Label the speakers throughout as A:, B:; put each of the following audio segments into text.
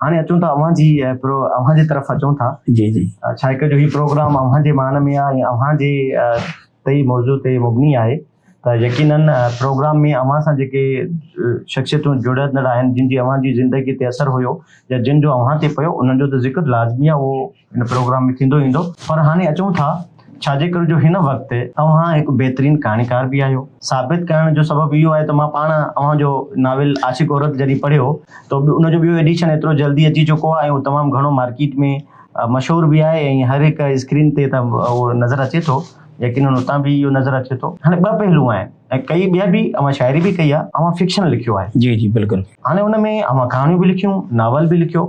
A: هاڻي اچون ٿا اوهان جي پرو اوهان جي طرف اچون ٿا جي جي ڇا هڪ
B: جو هي پروگرام
A: اوهان جي مان ۾ آهي اوهان جي تي موضوع تي مبني آهي ته يقينن پروگرام ۾ اوهان سان جيڪي شخصيتون جڙندڙ آهن جن جي اوهان جي زندگي تي اثر هيو يا جن جو اوهان تي پيو انهن جو ته ذڪر لازمي آهي ان پروگرام ۾ ٿيندو ايندو پر هاڻي اچون ٿا ڇا جي ڪري جو هن وقت اوهان هڪ بهترين ڪهاڻيڪار به آهيو. ثابت ڪرڻ جو سبب اهو آهي ته مان پاڻ اوهان جو ناول عاشق عورت جڏهن پڙهيو ته ان جو ٻيو ايڊيشن ايترو جلدي اچي چڪو آهي ۽ تمام گهڻو مارڪيٽ ۾ مشهور به آهي ۽ هر هڪ اسڪرين تي ته اهو نظر اچي ٿو يقينن اتان به اهو نظر اچي ٿو. هاڻي ٻه پهلو آهن ۽ ڪئي ٻيا به اوهان شاعري به ڪئي آهي اوهان فڪشن لکيو آهي. جي جي بلڪل. هاڻي
B: ان ۾ اوهان
A: ڪهاڻيون به لکيون ناول به لکيو.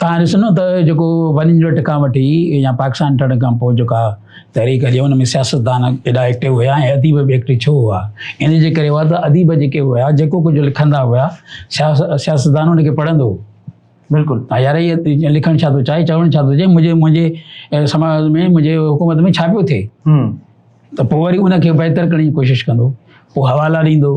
B: توهان ڏسندو ته جيڪو ون يونٽ کان وٺي يا پاڪستان ٺهڻ کان پوء جيڪا تحريڪ هلي ان ۾ سياستدان ايڏا ايڪٽو هيا ۽ اديب به ايڪٽو ڇو هئا ان جي ڪري هئا ته اديب جيڪي هيا جيڪو ڪجهه لکندا هيا سياستدان ان کي پڙهندو هو بلڪل ها يار هي لکڻ ڇا ٿو چاهي چوڻ ڇا ٿو چاهي منهنجي منهنجي سماج ۾ منهنجي حڪومت ۾ ڇا پيو ٿئي ته پوء وري ان کي بهتر ڪرڻ جي ڪوشش ڪندو پوء حوالا ڏيندو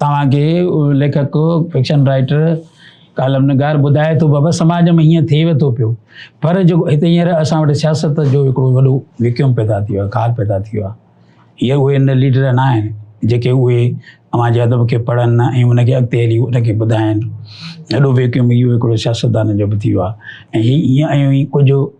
B: توهان کي ليکڪ، فڪشن رائٽر، ڪالم نگار ٻڌائي ٿو بابا سماج ۾ هيئن ٿئي وتو پيو پر جيڪو هتي هينئر اسان وٽ سياست جو هڪڙو وڏو ويڪيوم پيدا ٿيو آهي کار پيدا ٿيو آهي هي اهي ان ليڊر نه آهن جيڪي اهي اوهان جي ادب کي پڙهن ۽ ان کي اڳتي هلي ان کي ٻڌائن اهڙو ويڪيوم اهو هڪڙو سياستدانن جو به ٿيو آهي ۽ هي ائين ائين ڪجهه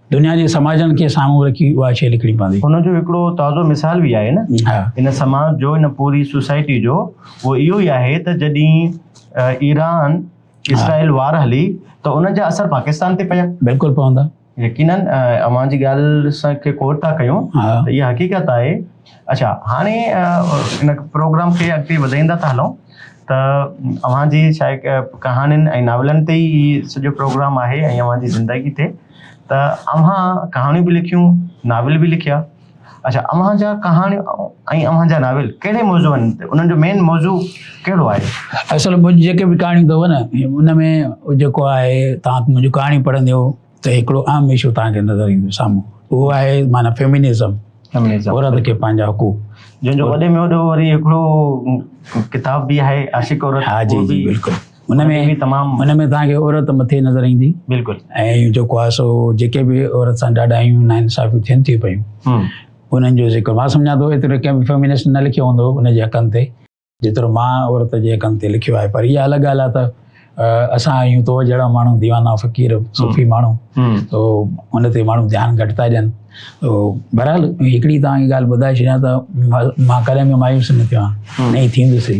B: دنيا جي سماجن کي سامهون رکي اها شي لکڻي پوندي. ان جو هڪڙو تازو
A: مثال به آهي نه ان سماج جو ان پوري سوسائٽي جو اهو اهو ئي آهي ته جڏهين ايران اسرائيل وار هلي ته ان جا اثر پاڪستان تي پيا. بلڪل پوندا. يقينن اوهان جي ڳالهه سان کي ڪوٽ ٿا ڪيون ته اها حقيقت آهي. اڇا هاڻي ان پروگرام کي اڳتي وڌائيندا ٿا هلون ته اوهان جي شايد ڪهاڻين ۽ ناولن تي ئي سڄو پروگرام آهي ۽ اوهان جي زندگي تي. ته اوهان ڪهاڻيون به لکيون ناول به لکيا اڇا اوهان جا ڪهاڻيون ۽ اوهان جا ناول ڪهڙي موضوعن تي انهن جو مين موضوع ڪهڙو آهي اصل منهنجي جيڪي به ڪهاڻيون اٿو نه ان ۾ جيڪو آهي توهان منهنجو ڪهاڻي پڙهنديو ته هڪڙو اهم اشو توهان کي نظر ايندو سامهون اهو آهي معنی فيمنزم
B: عورت کي پنهنجا حقوق جنهن جو وڏي ۾
A: وڏو وري هڪڙو ڪتاب به آهي عاشق عورت ها جي جي بلڪل
B: ان ۾ به تمام
A: ان ۾
B: تان
A: کي عورت
B: مٿي نظر ايندي بالکل ۽ جو
A: ڪو سو
B: جيڪي به عورت سان ڏاڍا آيون نا انصافي ٿين ٿي پيون انن جو ذڪر ما سمجھا تو اتري ڪي به فيمنسٽ نه لکيو هوندو ان جي حقن تي جيترو ما عورت جي حقن تي لکيو آهي پر هي الڳ ڳالهه آهي ته اسان آيون تو جهڙا ماڻهو ديوانا فقير صوفي ماڻهو تو ان تي ماڻهو ڌيان گهٽ ٿا ڏين تو بهرحال هڪڙي تان ڳالهه ٻڌائي ڇڏيان ته ما ڪڏهن به مايوس نه ٿيو آهي نه ٿيندسي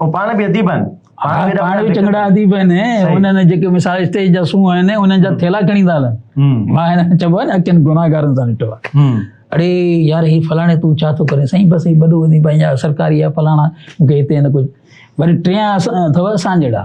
B: هو پاڻ
A: به اديب آهن پاڻ به چڱڙا
B: اديب آهن انهن جيڪي مثال اسٽيج جا سونهن آهن انهن جا ٿيلا کڻي ٿا هلن مان هن چئبو آهي نه اکين گناهگارن سان نٽو آهي اڙي يار هي فلاڻي تون ڇا ٿو ڪرين سائين بس هي وڏو اديب آهي يا سرڪاري آهي فلاڻا مون کي هتي هن ڪجهه وري ٽيان اٿو اسان جهڙا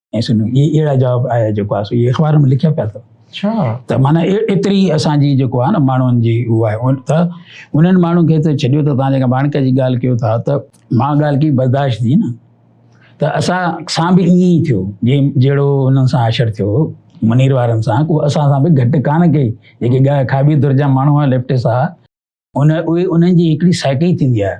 B: ۽ سنو هي اهڙا جواب آيا جيڪو آسو هي اخبار ۾ لکيا پيا اٿو اچھا ته معنی ايتري اسان جي جيڪو آ نه ماڻهن جي هو آهي ان ته انهن ماڻهن کي ته ڇڏيو ته تان جيڪا ماڻڪ جي ڳالهه ڪيو ٿا ته مان ڳالهه ڪي برداشت ٿي نه ته اسان سان به ائين ئي ٿيو جي جهڙو انهن سان عاشر ٿيو منير وارن سان ڪو اسان سان به گهٽ کان ڪي جيڪي ڳا کاٻي در جا ماڻهو آهن ليفٽس آهن ان اهي انهن جي هڪڙي سائيڪي ٿيندي آهي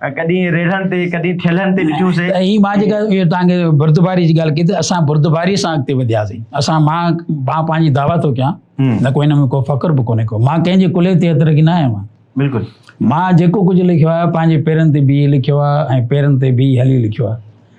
A: ڪڏهن ريڙهن تي ڪڏهن ٿيلهن تي ڏٺيون سي هي مان جيڪا اهو
B: توهان کي بردباري جي ڳالهه ڪئي ته اسان بردباري سان اڳتي وڌياسين اسان مان مان پنهنجي دعويٰ ٿو ڪيان نه ڪو هن ۾ ڪو فخر به ڪونهي ڪو مان ڪنهن جي ڪلهي تي هٿ رکي نه آيو آهيان بلڪل مان
A: جيڪو ڪجهه لکيو آهي
B: پنهنجي پيرن تي بيهي لکيو آهي ۽ پيرن تي بيهي هلي لکيو آهي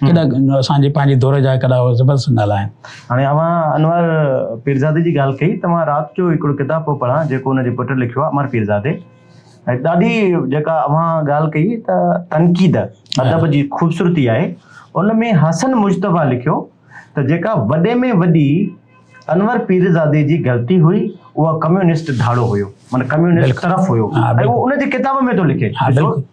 B: ڪيڏا اسان جي پنهنجي دور جا ڪيڏا زبردست نالا آهن. هاڻي اوهان
A: انور پيرزادي جي ڳالهه ڪئي ته مان رات جو هڪڙو ڪتاب پيو پڙهان جيڪو ان جي پٽ لکيو آهي امر پيرزادي ۽ ڏاڍي جيڪا اوهان ڳالهه ڪئي ته تنقيد ادب جي خوبصورتي آهي ان ۾ حسن مجتبيٰ لکيو ته جيڪا وڏي ۾ وڏي انور پيرزادي جي غلطي هئي اها ڪميونسٽ ڌاڙو هيو معنيٰ ڪميونسٽ طرف هيو ۽ اهو ان جي ڪتاب ۾ ٿو لکي.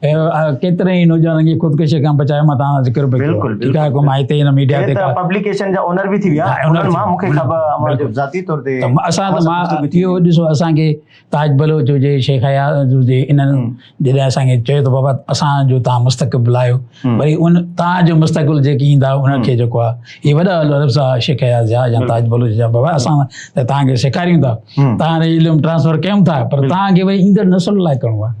B: ڪيترن ئي نوجوانن کي خودڪشي کان بچايو مان تان ذڪر به ڪيو ٺيڪ آهي ڪو مان هتي
A: هن
B: ميڊيا تي پبليڪيشن جا اونر به
A: ٿي ويا انهن مان مونکي خبر ذاتي طور تي اسان ته مان
B: اهو ڏسو اسان کي تاج بلوچ هجي شيخ حيات هجي انهن جڏهن اسان کي چيو ته بابا اسان جو تان مستقبل آيو وري ان تان جو مستقبل جيڪي ايندا انهن کي جيڪو آهي هي وڏا عرب سا شيخ حيات جا يا تاج بلوچ جا بابا اسان ته تان کي سيکاريون ٿا تان علم ٽرانسفر ڪيون ٿا پر تان کي وري ايندڙ نسل لاء ڪرڻو آهي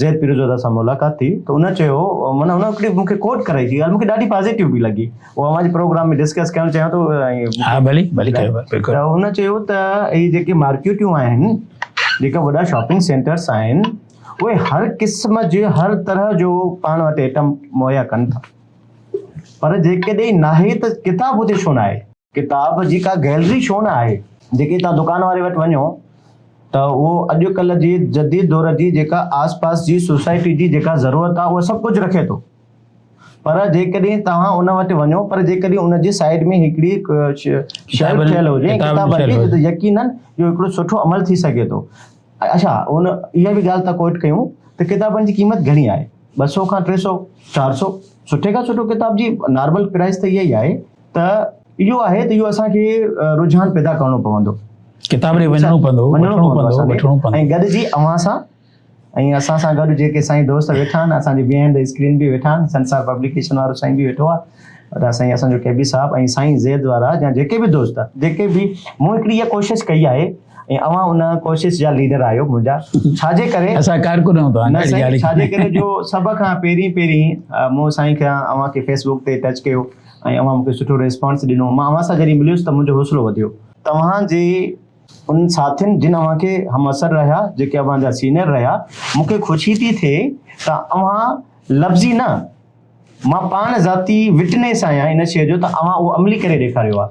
A: زيد پيرزودا سان ملاقات ٿي ته ان چيو معنيٰ ان هڪڙي مون کي ڪوٽ ڪرائي جي ڳالهه مون کي ڏاڍي پازيٽو به لڳي اها اوهان جي پروگرام ۾ ڊسڪس ڪرڻ چاهيان ٿو ها ڀلي ڀلي
B: ته هن چيو
A: ته هي جيڪي مارڪيٽون آهن جيڪا وڏا شاپنگ سينٽرس آهن اهي هر قسم جي هر طرح جو پاڻ وٽ ائٽم مهيا ڪن ٿا پر جيڪڏهن ناهي ته ڪتاب هتي ڇو ناهي ڪتاب جي ڪا گئلري ڇو نه آهي؟ جيڪي توهان دڪان واري وٽ وڃو ته اهو اڄڪلهه جي جديد دور جي جيڪا آس پاس جي سوسائٽي جي جيڪا ضرورت آهي اهو سڀ ڪجهه رکي ٿو پر جيڪڏهن توهان ان وٽ وڃو پر جيڪڏهن ان جي سائيڊ ۾ هڪڙي شيلف ٺهيل هجي ڪتاب جي ته يقينن اهو هڪڙو سٺو عمل ٿي سگهي ٿو. اڇا ان اها به ڳالهه ته ڪوٽ ڪيون ته ڪتابن جي قيمت گهڻي آهي ٻه سؤ کان ٽي سؤ چار سؤ سٺي کان سٺو ڪتاب جي نارمل پرائس ته اها ئي آهي. ته اهو آهي ته اهو اسان کي رجحان پيدا ڪرڻو پوندو ڪتاب ڏي وڃڻو پوندو وڃڻو پوندو وٺڻو پوندو ۽ گڏجي اوهان سان ۽ اسان سان گڏ جيڪي سائين دوست ويٺا آهن اسان جي بيهائنڊ دي اسڪرين به ويٺا آهن سنسار پبليڪيشن وارو سائين به ويٺو آهي ته سائين اسان جو ڪي بي صاحب ۽ سائين زيد وارا يا جيڪي به دوست جيڪي به مون هڪڙي اها کوشش ڪئي آهي ۽ اوهان ان ڪوشش جا ليڊر آهيو منهنجا ڇا جي ڪري اسان ڪارڪن آهيون توهان
B: جا ڇا جي ڪري جو
A: سڀ کان پهرين پهرين مون سائين کي اوهان کي فيسبوڪ تي ٽچ ڪيو ۽ اوهان مون کي سٺو ريسپانس ڏنو. مان اوهان سان جڏهن مليس ته منهنجو حوصلو وڌيو. توهان جي انهن ساٿين جن اوهان کي همعصر رهيا، جيڪي اوهان جا سينئر رهيا، مون کي خوشي ٿي ٿئي ته اوهان لفظي نه، مان پاڻ ذاتي وٽنيس آهيان ان شيء جو ته اوهان اهو عملي ڪري ڏيکاريو آهي.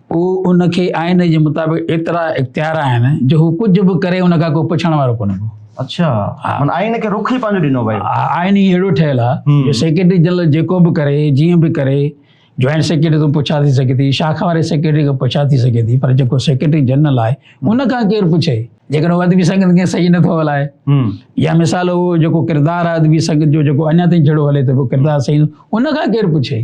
B: هو ان کي آئين جي مطابق ايترا اختيار آهن جو هو ڪجهه به ڪري ان کان ڪو پڇڻ وارو ڪونه ڪو. اڇا من
A: آئين کي رخ ئي پنهنجو ڏنو ويو آئين ئي اهڙو ٺهيل
B: آهي جو سيڪريٽري جنرل جيڪو به ڪري جيئن به ڪري جوائنٽ سيڪريٽري تون پڇا ٿي سگهي ٿي شاخ واري سيڪريٽري کي پڇا ٿي سگهي ٿي پر جيڪو سيڪريٽري جنرل آهي ان کان ڪير پڇي جيڪڏهن هو ادبي سنگت کي صحيح نٿو هلائي يا مثال هو جيڪو ڪردار آهي ادبي سنگت جو جيڪو اڃا تائين جهڙو هلي ٿو پيو ڪردار صحيح ان کان ڪير پڇي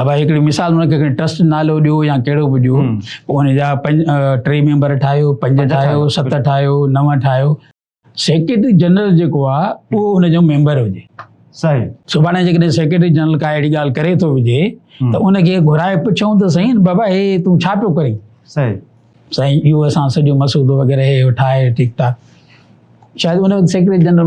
B: ابا هڪڙي مثال هن کي ٽرسٽ نالو ڏيو يا ڪهڙو به ڏيو پوء ان جا پنج ٽي ميمبر ٺاهيو پنج ٺاهيو ست ٺاهيو نو ٺاهيو سيڪريٽري جنرل جيڪو آ اهو ان جو ميمبر هجي صحيح سڀاڻي جيڪڏهن سيڪريٽري جنرل ڪا اهڙي ڳالهه ڪري ٿو وجهي ته ان کي گهرائي پڇون ته سائين بابا هي تون ڇا پيو ڪرين صحيح سائين اهو اسان سڄو مسودو وغيره هي ٺاهي ٺيڪ ٺاڪ شايد ان سيڪريٽري جنرل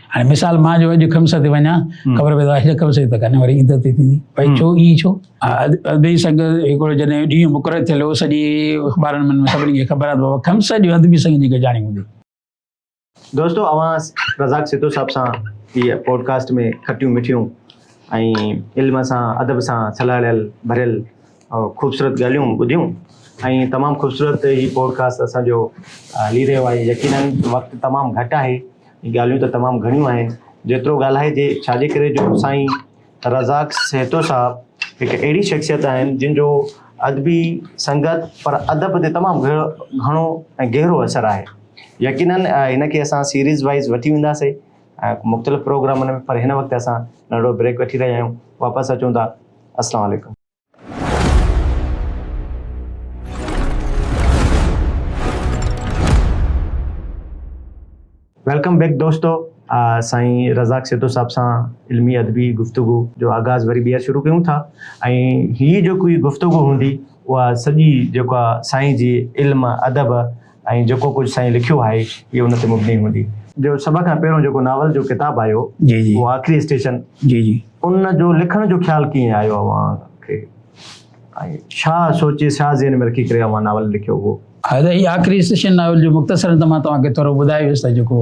B: هاڻي مثال مان جو اڄ خمس تي وڃان خبر پئي ته خمس تي ته ڪن وري عيد تي ٿيندي بھي ڇو ئي ڇو ادبي سنگ هڪڙو جڏهن ڏينهن مقرر ٿيل هو سڄي اخبارن ۾ سڀني کي خبر آهي ته خمس جو ادبي سنگ جي گجاڻي هوندي
A: دوستو اوهان رزاق سيتو صاحب سان هي پوڊڪاسٽ ۾ کٽيون مٺيون ۽ علم سان ادب سان سلهڙيل ڀريل خوبصورت ڳالهيون ٻڌيون ۽ تمام خوبصورت هي پوڊڪاسٽ اسان جو هلي رهيو آهي يقينن وقت تمام گهٽ آهي ڳالهيون ته تمام گهڻيون آهن جيترو ڳالهائجي ڇا جي ڪري جو سائين رزاق سهتو صاحب هڪ اهڙي شخصيت آهن جن جو ادبي سنگت پر ادب تي تمام گهڻو ۽ گهرو اثر آهي يقينن هن کي اسان سيريز وائز وٺي وينداسي مختلف پروگرامن ۾ پر هن وقت اسان ننڍڙو بريڪ وٺي رهيا آهيون واپس اچون ٿا السلام عليڪم ويلڪم بيڪ دوستو سائين رزاق سيتو صاحب سان علمي ادبي گفتگو جو آغاز وري ٻيهر شروع ڪيون ٿا ۽ هي جو ڪوئي گفتگو هوندي اها سڄي جيڪا سائين جي علم ادب ۽ جيڪو ڪجهه سائين لکيو آهي اهي ان تي مبني هوندي. جو سڀ کان پهريون جيڪو ناول جو ڪتاب آيو اهو آخري اسٽيشن ان جو لکڻ جو خيال ڪيئن آيو اوهان کي ۽ ڇا سوچي ڇا ذهن ۾ رکي ڪري اوهان ناول لکيو هو. هاء ته هي آخري اسٽيشن
B: ناول جو مختصرن ته مان توهان کي ٿورو ٻڌايو هيس ته جيڪو.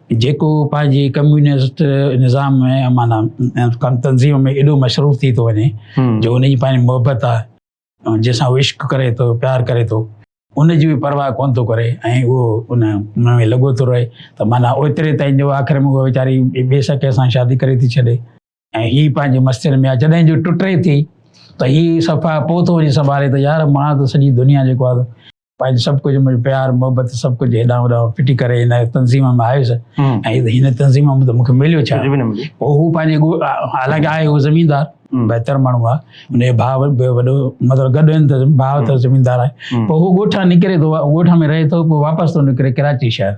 B: جيڪو پنهنجي ڪميونسٽ نظام ۾ مانا تنظيم ۾ ايڏو مصروف ٿي ٿو وڃي جو ان جي پنهنجي محبت آهي جنهن سان هو عشق ڪري ٿو پيار ڪري ٿو ان جي به پرواهه ڪونه ٿو ڪري ۽ اهو ان ۾ لڳو ٿو رهي ته مانا اوتري تائين جو آخر ۾ هو ويچاري ٻي سڪي سان شادي ڪري ٿي ڇڏي ۽ هي پنهنجي مستين ۾ آ جڏهن جو ٽٽي ٿي ته هي صفا پوتو وڃي سنڀالي ته يار مان ته سڄي دنيا جيڪو آ پنهنجو سڀ ڪجهه منهنجو پيار محبت سڀ ڪجهه هيڏانهن هوڏانهن ڦٽي ڪري هن تنظيم ۾ آيس ۽ هن تنظيم ۾ ته مونکي مليو ڇا پوء هو پنهنجي حالانڪه آهي هو زميندار بهتر ماڻهو آ ان جو ڀاء به وڏو مطلب گڏ آهن ته ڀاء ته زميندار آهي پوء هو ڳوٺان نڪري ٿو ڳوٺ ۾ رهي ٿو پوء واپس ٿو نڪري ڪراچي شهر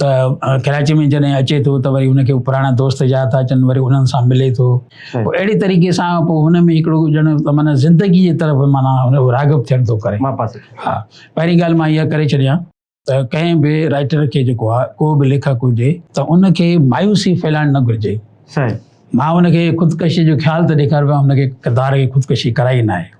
B: ته ڪراچي ۾ جڏهن اچي ٿو ته وري هنکي پراڻا دوست جا ٿا اچن وري انهن سان ملي ٿو پوء اهڙي طريقي سان پوء هن ۾ هڪڙو ڄڻ معنيٰ زندگي جي طرف معنيٰ راغب ٿيڻ ٿو ڪري ها پهرين ڳالهه مان اها ڪري ڇڏيان ته ڪنهن به رائٽر کي جيڪو آهي ڪو به ليکڪ هجي ته ان کي مايوسي ڦهلائڻ نه گهرجي مان هن کي خودڪشي جو خيال ته ڏيکاربو هن کي ڪردار کي خودڪشي ڪرائي نه آهي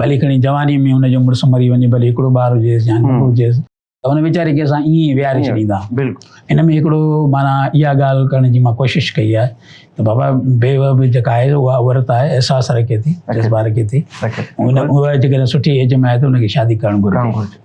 B: ڀلي کڻي جواني ۾ هن جو مڙس مري وڃي ڀلي هڪڙو ٻار هجيس يا ننڍو هجيس ته هن ويچاري کي اسان ائين ويهاري ڇڏيندا ان ۾ هڪڙو مانا اها ڳالهه ڪرڻ جي مان ڪوشش ڪئي آهي ته بابا بيوه به جيڪا آهي اها عورت آهي احساس رکي ٿي جذبا رکي ٿي ان اها جيڪڏهن سٺي ايج ۾ آهي ته ان کي شادي ڪرڻ گهرجي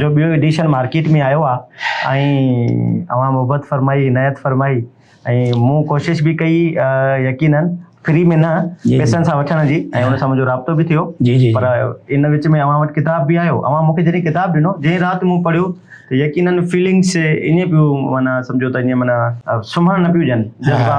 A: جو ٻيو ايڊيشن مارڪيٽ ۾ آيو آهي ۽ اوهان محبت فرمائي عنايت فرمائي ۽ مون ڪوشش به ڪئي يقينن فري ۾ نه پيسن سان وٺڻ جي ۽ ان سان منهنجو رابطو به ٿيو پر ان وچ ۾ اوهان وٽ ڪتاب به آيو اوهان مونکي جڏهن ڪتاب ڏنو جنهن رات مون پڙهيو ته يقينن فيلنگس ائين پيو معنيٰ سمجهو ته ائين معنيٰ سمهڻ نه پيون ڏين جذبا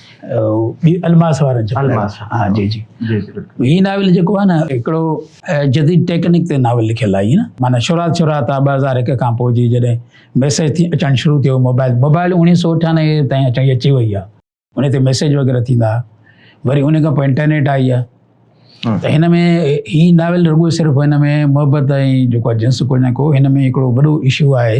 B: الماس وارن جو الماس ها جي جي جي هي ناول جيڪو آهي نه هڪڙو جديد ٽيڪنڪ تي ناول لکيل آهي نه معنی شروعات شروعات آ 2001 کان پوء جي جڏهن ميسج ٿي اچڻ شروع ٿيو موبائل موبائل 1998 تائين اچي اچي وئي آ ان تي ميسج وغيرہ ٿيندا وري ان کان پوء انٽرنيٽ آئي آ ته هن ۾ هي ناول رڳو صرف هن ۾ محبت ۽ جيڪو جنس ڪو نه ڪو هن ۾ هڪڙو وڏو ايشو آهي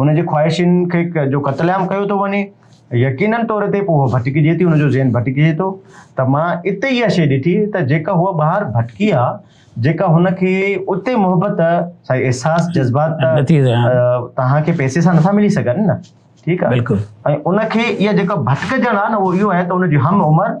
A: هن جي خواهشين کي جو قتل عام ڪيو ٿو وڃي يقينن طور تي پوء هو ڀٽڪجي ٿي هن جو ذهن ڀٽڪجي ٿو ته مان اتي اها شيء ڏٺي ته جيڪا هوء ٻاهر ڀٽڪي آ جيڪا هن کي اتي محبت سائي احساس جذبات توهان کي پئسي سان نٿا ملي سگهن نه ٺيڪ آ بلڪل ۽ ان کي
B: اها
A: جيڪا ڀٽڪجڻ آ نه اهو اهو آهي ته ان جي هم عمر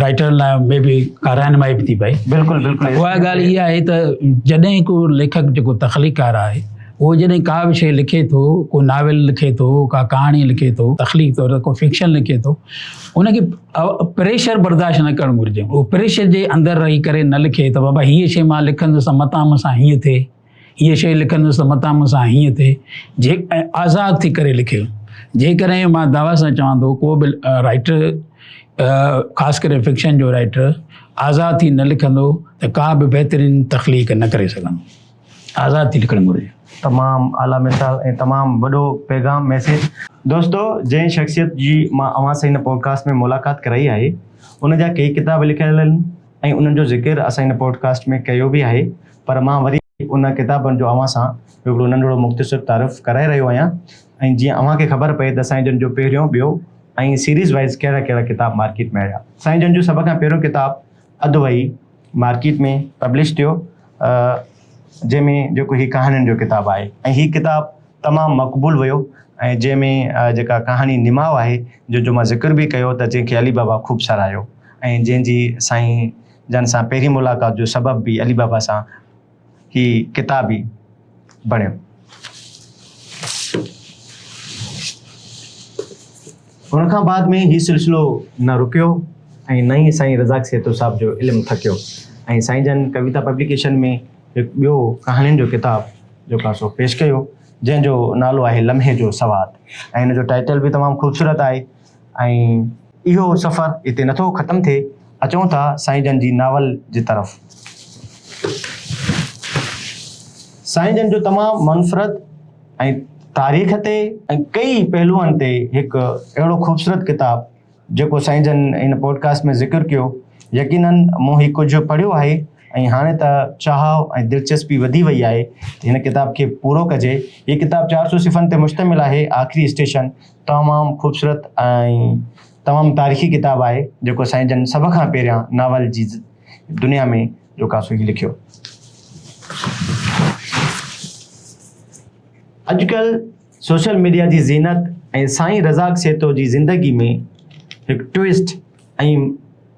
B: رائٽرن لاء مي بي ڪا رهنمائي به ٿي پئي بلڪل بلڪل اها
A: ڳالهه اها آهي ته
B: جڏهن ڪو ليکڪ جيڪو تخليقار آهي اهو جڏهن ڪا به شيء لکي ٿو ڪو ناول لکي ٿو ڪا ڪهاڻي لکي ٿو تخليق طور ڪو فڪشن لکي ٿو ان کي پريشر برداشت نه ڪرڻ گهرجي اهو پريشر جي اندر رهي ڪري نه لکي ته بابا هيء شيء مان لکندس متان مون سان هيئن ٿئي هيء شعر لکندس ته متان مون سان هيئن ٿئي، جي ۽ آزاد ٿي ڪري لکيو. جيڪڏهن مان دعويٰ سان چوان ٿو ڪو به رائٽر خاص ڪري فڪشن جو رائٽر آزاد ٿي نه لکندو ته ڪا به بهترين تخليق نه ڪري سگهندو. آزاد ٿي لکڻ گهرجي. تمام اعليٰ
A: مثال ۽ تمام وڏو پيغام ميسيج. دوستو جنهن شخصيت جي مان اوهان سان هن پوڊڪاسٽ ۾ ملاقات ڪرائي آهي ان جا ڪيئي ڪتاب لکيل آهن ۽ انهن جو ذڪر اسان هن پوڊڪاسٽ ۾ ڪيو به آهي پر مان وري انهن ڪتابن جو اوهان سان هڪڙو ننڍڙو مختصر تعارف ڪرائي رهيو آهيان ۽ جيئن اوهان کي خبر پئي ته سائين جن جو پهريون، ٻيو ۽ سيريز وائيز ڪهڙا ڪهڙا ڪتاب مارڪيٽ ۾ آيا. سائين جن جو سڀ کان پهريون ڪتاب اڌ وهي مارڪيٽ ۾ پبلش ٿيو جنهن ۾ جيڪو هي ڪهاڻين جو ڪتاب آهي ۽ هي ڪتاب تمام مقبول ويو ۽ جنهن ۾ جيڪا ڪهاڻي نماء آهي جنهن جو مان ذڪر به ڪيو ته جنهن کي علي بابا خوب ساراهيو ۽ جنهن جي سائين جنھن سان پهرين ملاقات جو سبب به علي بابا سان هي ڪتاب ئي بڻيو. ان کان بعد ۾ هي سلسلو نه رڪيو ۽ نه ئي سائين رزاق سيتو صاحب جو علم ٿڪيو ۽ سائين جن ڪويتا پبليڪيشن ۾ هڪ ٻيو ڪهاڻين جو ڪتاب جيڪو سو پيش ڪيو جنھن جو نالو آهي لمحي جو سوات ۽ ان جو ٽائيٽل به تمام خوبصورت آهي. ۽ اهو سفر هتي نٿو ختم ٿئي، اچون ٿا سائين جن جي ناول جي طرف. سائين جن جو تمام منفرد ۽ تاريخ تي ۽ ڪئي پهلوئن تي هڪ اهڙو خوبصورت ڪتاب جيڪو سائين جن ان پوڊڪاسٽ ۾ ذڪر ڪيو، يقيناً مون هي ڪجهه پڙهيو آهي ۽ هاڻي ته چاهه ۽ دلچسپي وڌي وئي آهي ته هن ڪتاب کي پورو ڪجي. هي ڪتاب چار سؤ صفحن تي مشتمل آهي، آخري اسٽيشن. تمام خوبصورت ۽ تمام تاريخي ڪتاب آهي جيڪو سائين جن سڀ کان پهريان ناول جي دنيا ۾ جو ڪا سو هي لکيو. اڄڪلهه سوشل ميڊيا جي زينت ۽ سائين رزاق سيتو جي زندگي ۾ هڪ ٽوئسٽ ۽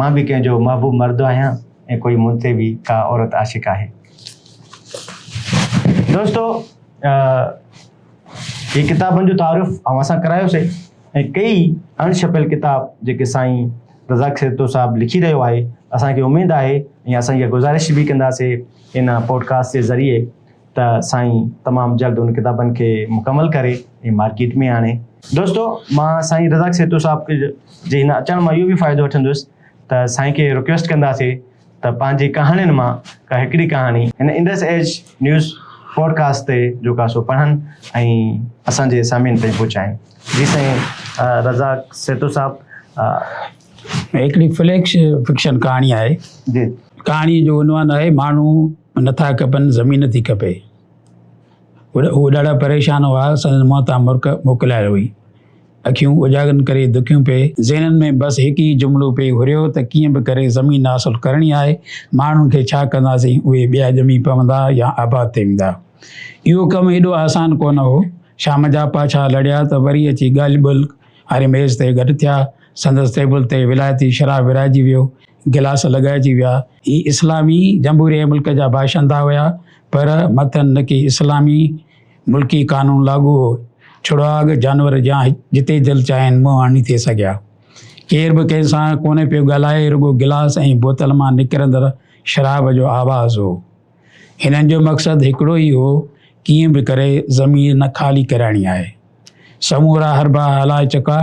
A: مان به ڪنهن جو محبوب مرد آهيان ۽ ڪوئي مون تي به ڪا عورت عاشق آهي. دوستو هي ڪتابن جو تعارف اوهان سان ڪرايوسي ۽ ڪيئي اڻ ڇپيل ڪتاب جيڪي سائين رزاق سرتو صاحب لکي رهيو آهي اسان کي اميد آهي ۽ اسان اها گذارش به ڪنداسي ان پوڊڪاسٽ جي ذريعي ته سائين تمام جلد ان ڪتابن کي مڪمل ڪري ۽ مارڪيٽ ۾ آڻي. دوستو مان سائين رزاق سيتو صاحب جي هن اچڻ مان اهو به فائدو وٺندس ته سائين کي رڪويسٽ ڪنداسي ته پنهنجي ڪهاڻين مان ڪا هڪڙي ڪهاڻي هن انڊس ايج نيوز پوڊڪاسٽ تي جو ڪا سو پڙهن ۽ اسان جي سامعين تائين پهچائين. جي سائين رزاق سيتو صاحب هڪڙي فليڪس
B: فڪشن ڪهاڻي آهي. جي. ڪهاڻي
A: جو عنوان
B: آهي ماڻهو. نٿا کپن زمين ٿي کپي هو ڏاڍا پريشان هئا سندن منهن تان مرڪ موڪلائي هئي اکيون اجاڳن ڪري دکيون پئي ذهنن ۾ بس هڪ ئي جملو پئي گهريو ته ڪيئن به ڪري زمين حاصل ڪرڻي آهي ماڻهن کي ڇا ڪنداسين اهي ٻيا ڄمي پوندا يا آباد ٿي ويندا اهو ڪم ايڏو آسان ڪونه هو شام جا پاڇا لڙيا ته وري اچي ڳالهه ٻولهه واري ميز تي گڏ ٿيا سندس ٽيبل تي ولائتي شراب ورهائجي ويو گلاس لڳائجي ويا. هي اسلامي جمهوريه ملڪ جا باشندا هيا، پر مٿن نڪي اسلامي ملڪي قانون لاڳو هو. ڇڙواڳ جانور جيان جتي دل چاهين منهن آڻي ٿي سگهيا. ڪير به ڪنهن سان ڪونه پيو ڳالهائي، رڳو گلاس ۽ بوتل مان نڪرندڙ شراب جو آواز هو. هنن جو مقصد هڪڙو ئي هو، ڪيئن به ڪري زمين نه خالي ڪرائڻي آهي. سمورا حربا هلائي چڪا،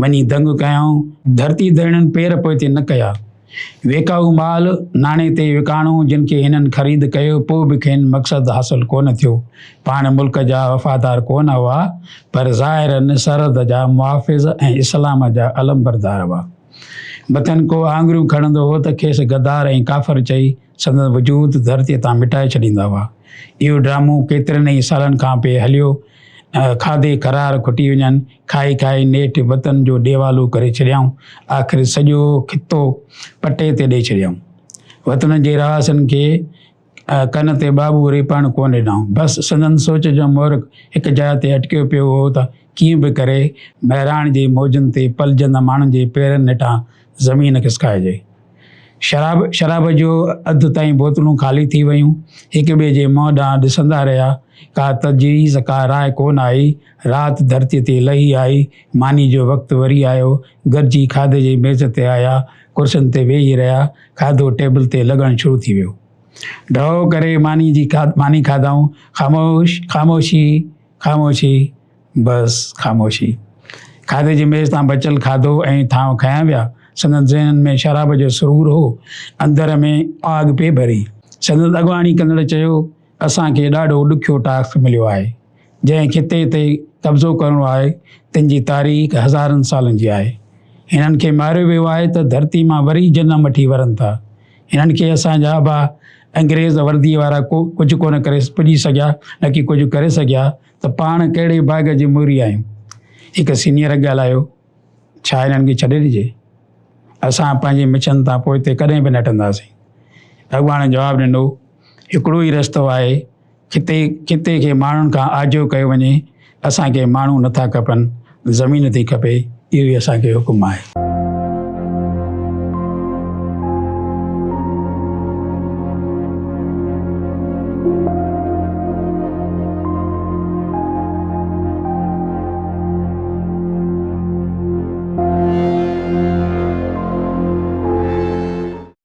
B: وڃي دنگ ڪيائون. ڌرتي ڌرڻين پير پوئتي نه ڪيا. ويڪائو مال ناڻي تي وڪاڻو، جن کي هنن خريد ڪيو، پوء به کين مقصد حاصل ڪونه ٿيو. پاڻ ملڪ جا وفادار ڪونه هئا، پر ظاهراً سرحد جا محافظ ۽ اسلام جا علمبردار هئا. مٿن ڪو آڱريون کڻندو هو ته کيس غدار ۽ ڪافر چئي، سندن وجود ڌرتيء تان مٽائي ڇڏيندا هئا. اهو ڊرامو ڪيترن ئي سالن کان پئي هليو. کاڌي کرار کٽي وڃن، کائي کائي نيٺ وطن جو ڏيوالو ڪري ڇڏيائون. آخر سڄو خطو پٽي تي ڏئي ڇڏيائون. وطن جي رهواسين کي ڪن تي ٻاٻو ريپڻ ڪونه ڏنائون. بس سندن سوچ جو محرڪ هڪ جاء تي اٽڪيو پيو هو ته ڪيئن به ڪري مهراڻ جي موجن تي پلجندڙ ماڻهن جي پيرن نيٺان زمين کسڪائجي. شراب شراب جو اڌ تائين بوتلون خالي ٿي ويون. هڪ ٻئي جي منهن ڏانهن ڏسندا رهيا. ڪا تجويز ڪا راء ڪو نه آئي. رات ڌرتيء تي لهي آئي. مانيء جو وقت وري آيو. گڏجي کاڌي جي ميز تي آيا. ڪرسين تي ويهي رهيا. کاڌو ٽيبل تي لڳڻ شروع ٿي ويو. ڍؤ ڪري مانيء جي ماني کاڌائون. خاموش خاموشي. خاموشي بس خاموشي. کاڌي جي ميز تان بچيل کاڌو ۽ ٿانو کنيا ويا. سندن ذهنن ۾ شراب جو سرور هو. اندر ۾ آڳ پئي ٻري. سندن اڳواڻي ڪندڙ چيو، اسان کي ڏاڍو ڏکيو ٽاسڪ مليو آهي. جنهن خطي تي قبضو ڪرڻو آهي، تن جي تاريخ هزارن سالن جي آهي. هنن کي ماريو ويو آهي ته ڌرتي مان وري جنم وٺي ورن ٿا. انهن کي اسان جا ابا انگريز ورديء وارا ڪو ڪجهه ڪونه ڪري پڄي سگهيا، نه ڪي ڪجهه ڪري سگهيا ته پاڻ ڪهڙي باغ جي موري آهيون. هڪ سينيئر ڳالهايو، ڇا انهن کي ڇڏي ڏجي؟ اسان پنهنجي مڇن تان پوئتي ڪڏهن به نه هٽنداسين. اڳواڻ جواب ڏنو، هڪڙو ئي رستو آهي، خطي خطي کي ماڻهن کان آجو ڪيو وڃي، اسان کي ماڻهو نٿا کپن، زمين ٿي کپي، اهو ئي اسان کي حڪم آهي.